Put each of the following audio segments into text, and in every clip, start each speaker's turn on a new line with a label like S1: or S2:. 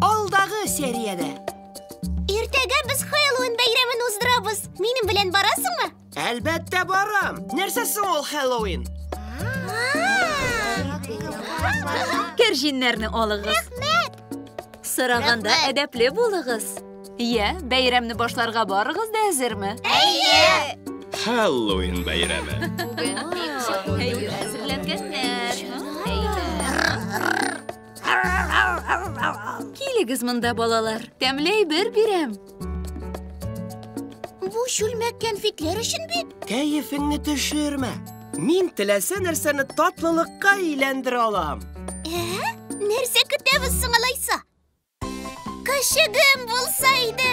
S1: Алдагы сериядә. Иртәгә без Хэллоуин бәйрәмен уздырабыз. Минем белән барасыңмы? Әлбәттә барам. Нәрсә соң ул Хэллоуин? Кәрҗиннәрне алыгыз. Рәхмәт! Сораганда әдәпле булыгыз. Йә, бәйрәмне башларга барыгыз да әзерме? Әйе! Хэллоуин бәйрәме. Әйе, әзерләнгәннәр. Килегез монда, балалар. Тәмләй бер бирәм. Бу чүлмәк кәнфитләр өчен бит. Кәефеңне төшермә. Мин теләсә нәрсәне татлылыкка әйләндерә алам. Ә? Нәрсә көтәбез соң алайса? Кашыгым булса иде.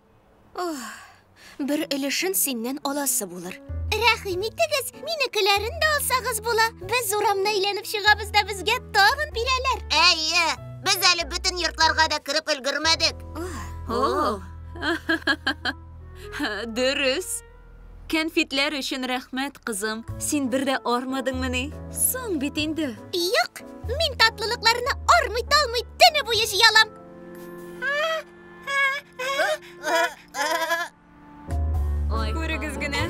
S1: Ох, бер өлешен синнән аласы булыр. Рәхим итегез, минекеләрен дә алсагыз була. Без урамны әйләнеп чыгабыз да безгә тагын бирәләр. Әйе, без әле бөтен йортларга да кереп өлгермәдек. О, Дөрес. Кәнфитләр өчен рәхмәт, кызым. Син бер дә армадыңмыни? Соң бит инде. Юк, мин татлылыкларны армый-талмый төне буе җыялам. Күрегез генә.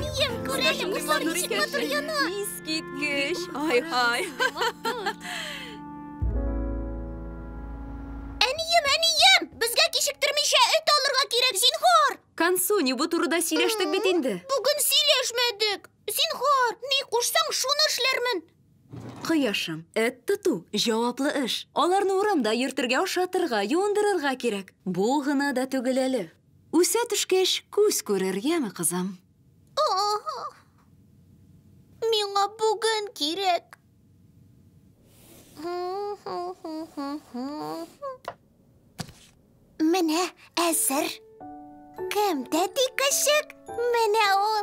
S1: Күрәлем, бушлар ничек матур яна. Искиткеч. Ай, ай. Әнием, әнием, безгә кичектермичә эт алырга кирәк, зинхар. Кансу, не бу турыда сөйләштек бит инде. Бүген сөйләшмәдек. Зинхар, ни кушсаң, шуны эшләрмен. Кояшым, эт тоту җаваплы эш. Аларны урамда йөртергә, ашатырга, юындырырга кирәк. Бу гына да түгел әле. Үсә төшкәч, күз күрер, яме, кызым? Миңа бүген кирәк. Менә әзер. Кем тәти көчек? Менә ул.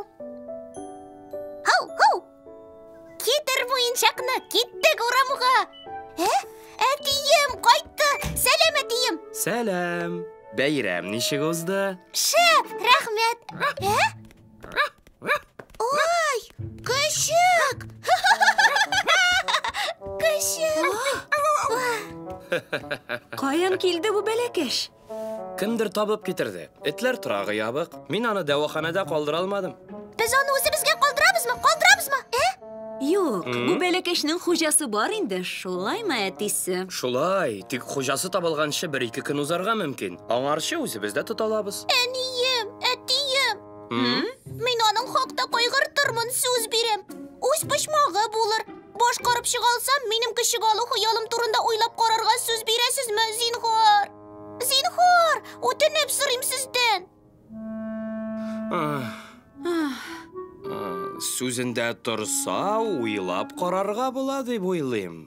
S1: Һау, һау! Китер муенчакны, киттек урамга. Ә? Әтием кайтты. Сәлам, әтием. Сәлам. Бәйрәм ничек узды? Шәп, рәхмәт. Ә? Ой, көшек! Көшек! Каян килде бу бәләкәш? Кемдер табып китерде. Этләр торагы ябык. Мин аны дәваханәдә калдыра алмадым. Без аны үзебезгә калдырабызмы? Калдырабызмы? Ә? Юк, бу бәләкәчнең хуҗасы бар инде, шулаймы, әтисе? Шулай, тик хуҗасы табылганчы бер-ике көн узарга мөмкин. Аңарчы үзебез дә тоталабыз. Әнием, әтием, мин аның хакта кайгыртырмын, сүз бирәм. Үз почмагы булыр. Башкарып чыга алсам, минем кеше алу хыялым турында уйлап карарга сүз бирәсезме, зинһар? Зинһар, үтенеп сорыйм сездән. Сүзендә торса, уйлап карарга була дип уйлыйм.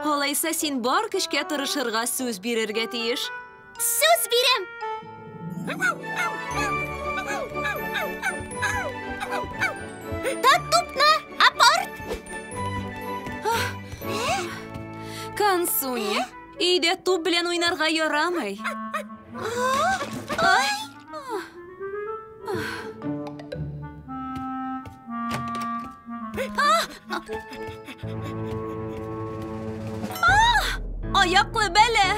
S1: Алайса син бар көчкә тырышырга сүз бирергә тиеш. Сүз бирәм! Тот тупны, апорт! Консуни. Өйдә туп белән уйнарга ярамый. Ай! Аяклы бәлә!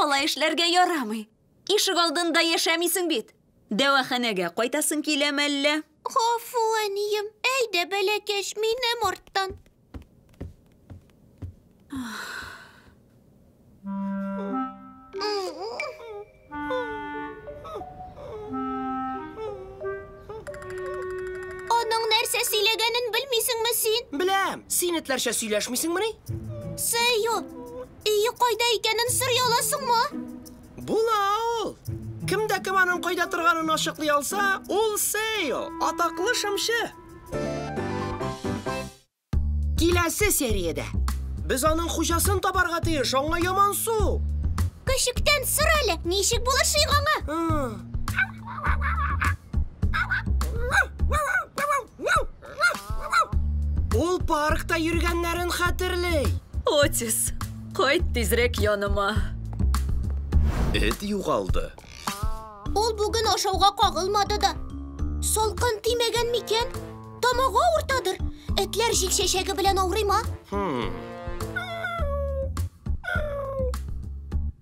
S1: Алай эшләргә ярамый. Ишек алдында яшәмисең бит. Дәваханәгә кайтасың килә мәллә? Гафу, әнием. Әйдә, бәләкәч, минем арттан. Аның нәрсә сөйләгәнен белмисеңме син? Беләм. Син этләрчә сөйләшмисеңмени? Сею, Өе кайда икәнен сорый аласыңмы? Була ул. Кем дә кем аның кайда торганын ачыклый алса, ул Сейл, атаклы шымчы. Киләсе сериядә без аның хуҗасын табарга тиеш, аңа ямансу. Көчектән сор әле, ничек булыр шыйг аңа? Ул паркта йөргәннәрен хәтерли. Отис, кайт тизрәк яныма. Эт югалды. Ул бүген ашауга кагылмады да. Салкын тимәгән микән? Тамагы авыртадыр. Этләр җил чәчәге белән авырыйма. Хм.